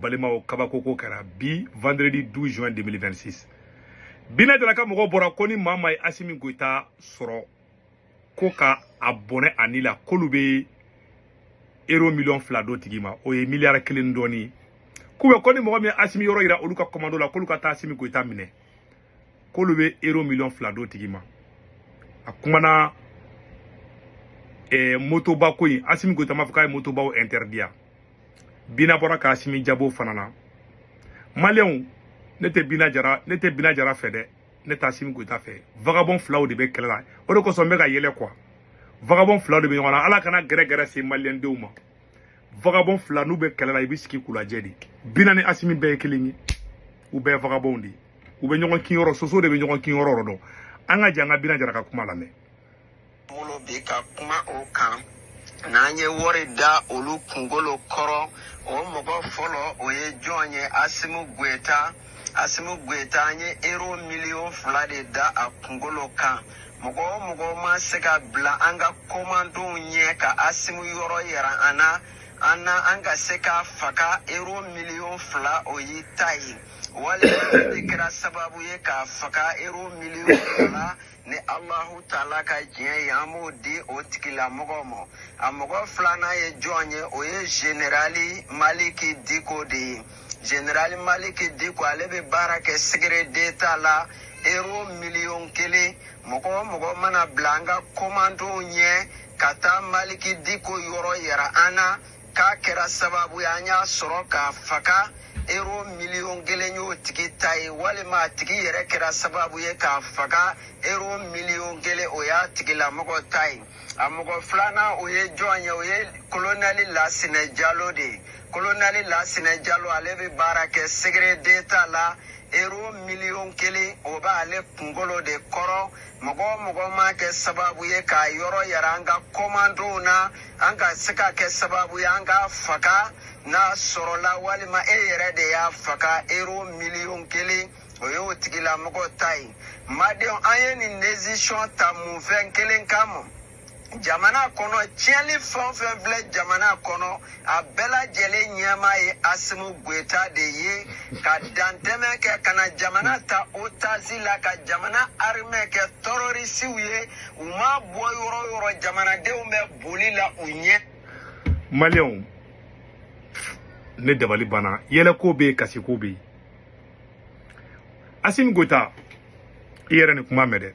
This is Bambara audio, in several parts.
balimaw kabakoko kɛra bi vendredi 12 juin 2026 bina jara ka mɔgɔw bɔra ko ni maa maa ye asimi goyita sɔrɔ ko ka a bɔnɛ a ni la k'olu bɛ euro miliyɔn fila d'o tigi ma o ye miliyari kelen dɔɔni k'u bɛ ko ni mɔgɔ min ye asimi yɔrɔ yira olu ka kɔmando la k'olu ka taa asimi goyita minɛ k'olu bɛ euro miliyɔn fila d'o tigi ma a kumana eh, motoba ko in asimi goyita m'a fɔ k'a ye motobaw interdit ya bina bɔra ka asimi jaabi o fana na maliyɛnw ne tɛ bina jara fɛ dɛ ne t'asimi goyita fɛ vagabɔn filaw de bɛ kɛlɛ la o de kosɔn n bɛ ka yɛlɛ quoi vagabɔn filaw de bɛ ɲɔgɔn na ala kana gɛrɛgɛrɛ se maliyɛndenw ma vagabɔn fila n'u bɛ kɛlɛ la i bɛ sigi k'u lajɛ de bina ni asimi bɛɛ ye kelen ye u bɛɛ ye vagabɔnw de ye u bɛ ɲɔgɔn kinyɔrɔ soso de bɛ ɲɔgɔn kinyɔrɔ dɔn an ka jɛ an ka bina jara ka kuma lamɛn bolo bɛ ka kuma o kan n'an ye wari da olu kunkolo kɔrɔ o mɔgɔ fɔlɔ o ye jɔn ye asimu goyita asimu goyita an ye ero miliyɔn fila de da a kunkolo kan mɔgɔ o mɔgɔ maa se ka bila an ka komandow ɲɛ ka asimu yɔrɔ yira an na an na an ka se k'a faga ero miliyɔn fila o y'i ta ye walima e de kɛra sababu ye k'a faga ero miliyɔn fila ni alahu taala ka diɲɛ ye an b'o di o tigilamɔgɔ ma a mɔgɔ filanan ye jɔn ye o ye zenerali maliki diko de ye zenerali maliki diko ale bɛ baara kɛ segere deta la ero miliyɔn kelen mɔgɔ o mɔgɔ mana bila an ka komandow ɲɛ ka taa maliki diko yɔrɔ yira an na k'a kɛra sababu ye an y'a sɔrɔ k'a faga ero miliyɔn kelen y'o tigi ta ye walima a tigi yɛrɛ kɛra sababu ye k'a faga ero miliyɔn kelen o y'a tigilamɔgɔ ta ye a mɔgɔ filanan o ye jɔn ye o ye kolonɛli lasinɛ jalo de ye kolonɛli lasinɛ jalo ale bɛ baara kɛ segere deta la ero miliyɔn kelen o b'ale kunkolo de kɔrɔ mɔgɔ o mɔgɔ maa kɛ sababu ye k'a yɔrɔ yira an ka kɔmandow na an ka se ka kɛ sababu ye an k'a faga n'a sɔrɔla walima e yɛrɛ de y'a faga ero miliyɔn kelen o ye o tigilamɔgɔ ta ye malidenw an ye nin desisɔn ta mun fɛn kelen kama jamana kɔnɔ tiɲɛni fɛn o fɛn filɛ jamana kɔnɔ a bɛɛ lajɛlen ɲɛmaa ye asimu goyita de ye ka dantɛmɛ kɛ ka na jamana ta otasi la ka jamana arimɛ kɛ tɔrɔrisiw ye u maa bɔ yɔrɔ o yɔrɔ jamanadenw bɛ boli la u ɲɛ maliyɛnw ne dabali banna yɛlɛko bɛ yen kasiko bɛ yen asimu goyita i yɛrɛ nin kuma mɛn dɛ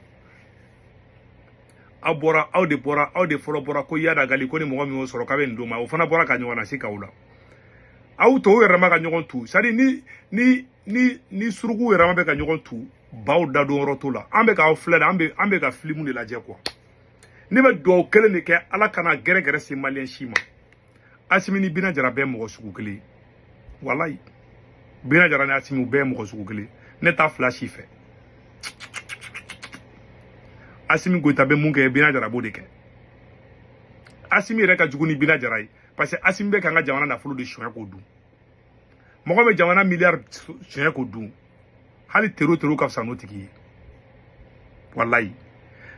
aw bɔra aw de bɔra aw de fɔlɔ bɔra ko iyad ag ghali ko ni mɔgɔ min y'o sɔrɔ k'a bɛ nin d'o ma o fana bɔra k'a ɲɔgɔnna sigi aw la aw tɔw yɛrɛma ka ɲɔgɔn tu c'est-à-dire ni ni ni ni suruku yɛrɛma bɛ ka ɲɔgɔn tu baw dadon yɔrɔ t'o la an bɛ k'aw filɛ de an bɛ an bɛ ka filimu de lajɛ quoi ne bɛ dugawu kelen de kɛ ala kana gɛrɛgɛrɛ se maliyɛn si ma asimi ni bina jara bɛɛ mɔgɔ sugu kelen walayi bina jara ni asimi u bɛɛ mɔgɔ sugu kelen ne t'a fila si fɛ asimi goyita bɛ mun kɛ bina jara b'o de kɛ asimi yɛrɛ ka jugu ni bina jara ye parce que asimi bɛ k'an ka jamana nafolo de suɲɛ k'o dun mɔgɔ bɛ jamana miliyari suɲɛ k'o dun hali tero tero ka fisa n'o tigi ye walayi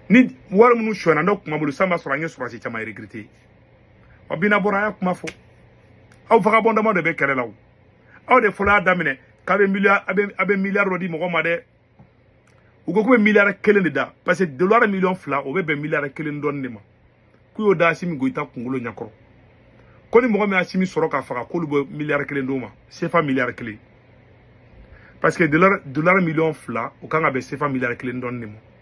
ni wari minnu suɲɛna n'o tun b'an bolo sisan b'a sɔrɔ an ye sɔrɔsi caman recruter wa bina bɔra a y'a kuma fɔ aw vagabɔn dama de bɛ kɛlɛ la o aw de fɔlɔ y'a daminɛ k'a bɛ miliyari a bɛ a bɛ miliyari dɔ di mɔgɔ ma dɛ u ko k'u bɛ miliyari kelen de da parce que dolari miliyɔn fila o bɛ bɛn miliyari kelen dɔɔni de ma k'u y'o da asimi goyita kunkolo ɲɛkɔrɔ ko ni mɔgɔ min asimi sɔrɔ k'a faga k'olu bɛ miliyari kelen d'o ma sefa miliyari kelen parce que dolari miliyɔn fila o kan ka bɛn sefa miliyari kelen dɔɔni de ma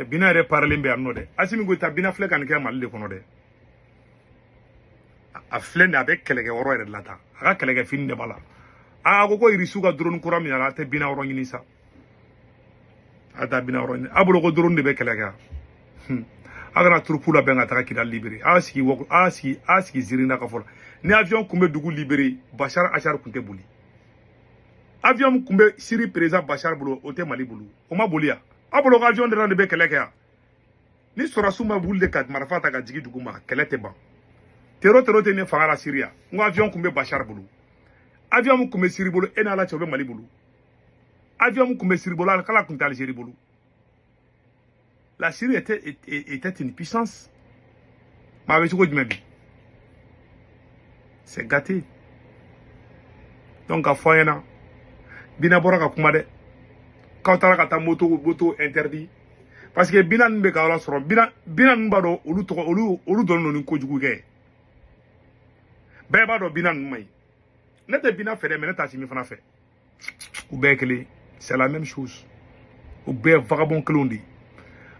cɛ bina yɛrɛ parilen bɛ yan nɔ dɛ asimi goyita bina filɛ ka nin kɛ mali de kɔnɔ dɛ a filɛ nin a bɛ kɛlɛkɛ yɔrɔ yɛrɛ de la tan a ka kɛlɛkɛ fini de b'a la a ko ko irisiw ka drone kura min y'a la a tɛ bina yɔrɔ ɲini sa a taa bina yɔrɔ ɲini a bolo ko drone de bɛ kɛlɛ kɛ a kana turupu labɛn ka taga kidal libere a sigi a sigi a sigi ziiri na ka fɔlɔ ni avion kun bɛ dugu libere bashar ashar kun tɛ boli avion kun bɛ siri perezan bashar bolo o tɛ mali bolo o ma boli yan a bolo ko avion dɔrɔn de bɛ kɛlɛ kɛ yan ni sɔrɔsiw ma wuli de ka marifa ta ka jigin dugu ma kɛlɛ tɛ ban tero tero tɛ ne fanga la siriya n ko avion kun bɛ bashar bolo avion kun bɛ siri bolo e n'ala cɛ o bɛ mali bolo avion min kun bɛ siri bolo kala kun tɛ alizeri bolo la syrie était, était, était une puissance mais a bɛ cogo jumɛn bi c'est gâté donc a fɔ an ɲɛna bina bɔra ka kuma dɛ k'aw taara ka taa moto moto interdit parce que bina ninnu bɛ ka aw lasɔrɔ bina bina ninnu b'a dɔn olu tɔgɔ olu olu dɔnnen don ni kojugu kɛ bɛɛ b'a dɔn bina ninnu man ɲi ne tɛ bina fɛ dɛ mais ne t'asimi fana fɛ u bɛɛ kelen c'est la même chose u bɛɛ vagabond kelenw de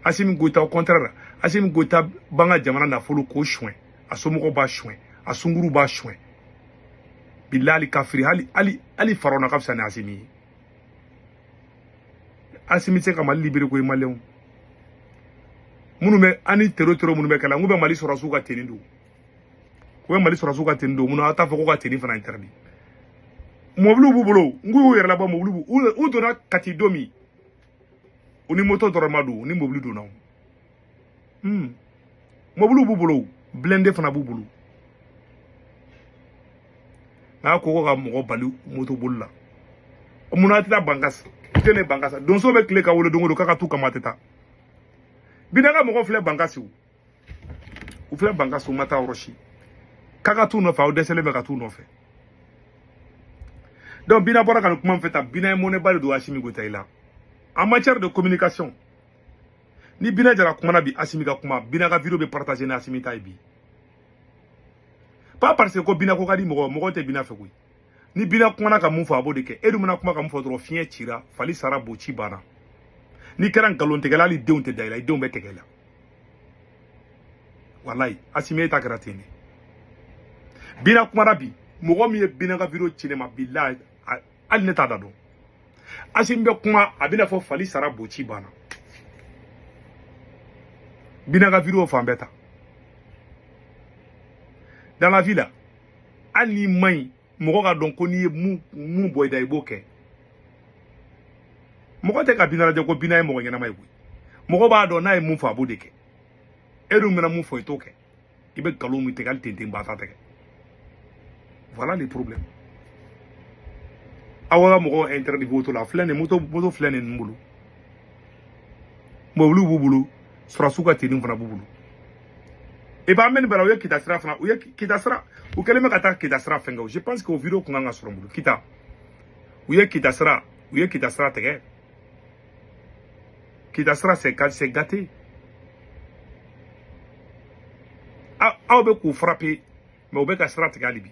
asimi goyita au contraire la asimi goyita b'an ka jamana nafolo k'o suɲɛ a somɔgɔw b'a suɲɛ a sunguruw b'a suɲɛ bilali kafiri hali hali hali farona ka fisa ni asimi ye asimi tɛ se ka mali libere koyi maliyɛnw minnu bɛ ani tero tero minnu bɛ kɛ la n k'u bɛ mali sɔrɔsiw ka tenue don o ye mali sɔrɔsiw ka teni don mun na aw t'a fɔ ko ka teni fana interdit mɔbiliw b'u bolo n k'u y'u yɛrɛ labɔ mɔbiliw b'u u donna kati don min u ni moto dɔrɔn ma don u ni mɔbili donna o hmm. mɔbiliw b'u bolo blindé fana b'u bolo n'a ko ko ka mɔgɔ bali moto boli la mun na a tɛ taa bankasi i tɛ ne bankasi donso bɛ tile ka wolo don o don k'a ka t'u kama a tɛ taa bina ka mɔgɔ filɛ bankasi u filɛ bankasi u ma taa yɔrɔ si k'a ka t'u nɔfɛ aw dɛsɛlen bɛ ka t'u nɔfɛ donc bina bɔra ka nin kuma min fɛ ta bina ye mɔnɛba de don asimi goyita i la en matière de communication ni bina jara kumana bi asimi ka kuma bina ka video bɛ partager ni asimi ta ye bi pas parce que ko bina ko ka di mɔgɔ mɔgɔ tɛ bina fɛ koyi ni bina kumana ka mun fɔ a b'o de kɛ e dun mana kuma ka mun fɔ dɔrɔn fiɲɛ cira fali sara bo ci banna n'i kɛra nkalontigɛla hali denw tɛ da i la i denw bɛ tɛgɛ i la walayi asimi ta kɛra ten de bina kumana bi mɔgɔ min ye bina ka video ci ne ma bilahi hali ne t'a da dɔn asimi bɛ kuma a bɛna fɔ fali sara bo ci banna bina ka video fan bɛɛ ta dans la vie là hali n'i man ɲi mɔgɔ k'a dɔn ko n'i ye mun bɔ i da i b'o kɛ mɔgɔ tɛ ka bina lajɛ ko bina ye mɔgɔ ɲɛnama ye koyi mɔgɔ b'a dɔn n'a ye mun fɔ a b'o de kɛ e dun mana mun fɔ i t'o kɛ i bɛ nkalon min tigɛ hali tenten ba ta tɛgɛ voilà les problèmes aw ka mɔgɔw interdit moto la filɛ nin moto moto filɛ ninnu bolo mɔbiliw b'u bolo sɔrɔsiw ka teni fana b'u bolo e b'a mɛn nin bɛɛ la u ye kita sira fana u ye kita sira u kɛlen bɛ ka taa kita sira fɛn kɛ o je pense que o video kun kan ka sɔrɔ n bolo kita u ye kita sira u ye kita sira tigɛ kita sira c'est c'est gâté aw bɛ k'u frapper mais u bɛ ka sira tigɛ hali bi